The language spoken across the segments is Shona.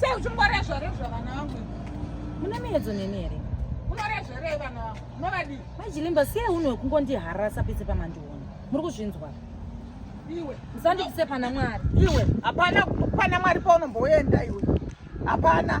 sei uchingorezvarezva vana vangu mune miedzo neni here unorezverei vana vangu unovadii maichilimba sei unhu wekungondiharasa pese pamandiona muri kuzvinzwa iwe musandipise pana mwari iwe hapana pana mwari paunomboenda iwe hapana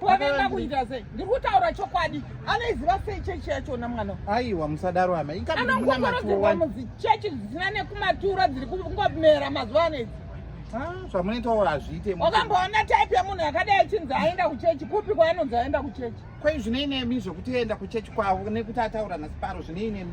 Wavenda kuita sei? Ndiri kutaura chokwadi. Anoiziva sei chechi yachona mwana? Aiwa musadaro hama. Ikamuna matuwa. Chechi dzisina nekumatura dziri kungomera mazuva ano idzi. Ah, zvamunoitawo hazviite. Wakamboona type yemunhu yakadai achinzi aenda kuchechi kupi kwaanonzi aenda kuchechi? Kwai zvinei nemi zvekuti aenda kuchechi kwavo nekuti ataura naSiparo zvinei nemi?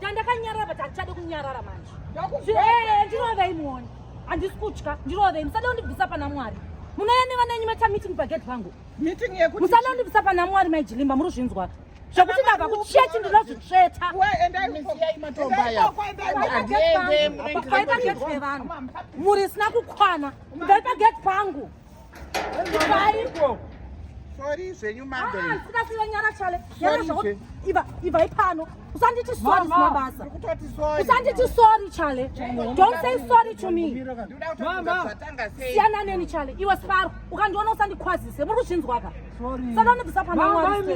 Chandakanyarara but handichade kunyarara manje. Eh, ndinova imuoni. Handisi kutya, ndinova imu. Musade kundibvisa pana Mwari. Munouya nevana yenyu maita meeting pagate pangu. Meeting yekuti musade kundibvisa pana Mwari mai Jilimba muri kuzvinzwa. Zvekuti ndava kuchechi ndinozvitsveta. Wewe endai musiyai matomba aya. Paita gate revanhu. Muri sina kukwana. Ndaipa gate pangu. Sorry zvenyu mother. Ah, sina sina nyara chale. Nyara zvako. Iva, iva ipano. Usanditi sorry sina basa. Usanditi sorry chale. Don't say sorry to me. Mama. Siyana neni chale. Iwe sifaro. Ukandiona usandikwazise. Muri kuzvinzwa ka? Sorry. Saka unobvisa pana mwana.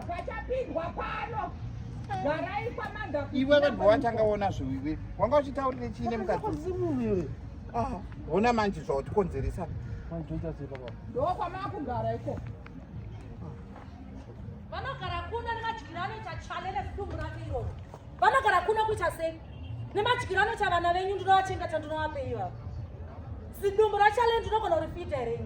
Pachapindwa pano. Garai kwa manda. Iwe vanhu wachanga ona zviwi. Wanga uchitaurira chii nemukati? Ah, hona manje zvawatikonzeresa ndokwamaakugara iko vanogara kuno nemadyiro anoita chale nezidumbu rake iroro vanogara kuno kuita sei nemadyiro anoita vana venyu ndinovachengeta ndinovapeiva zidumbu rachale ndinogona kurifita here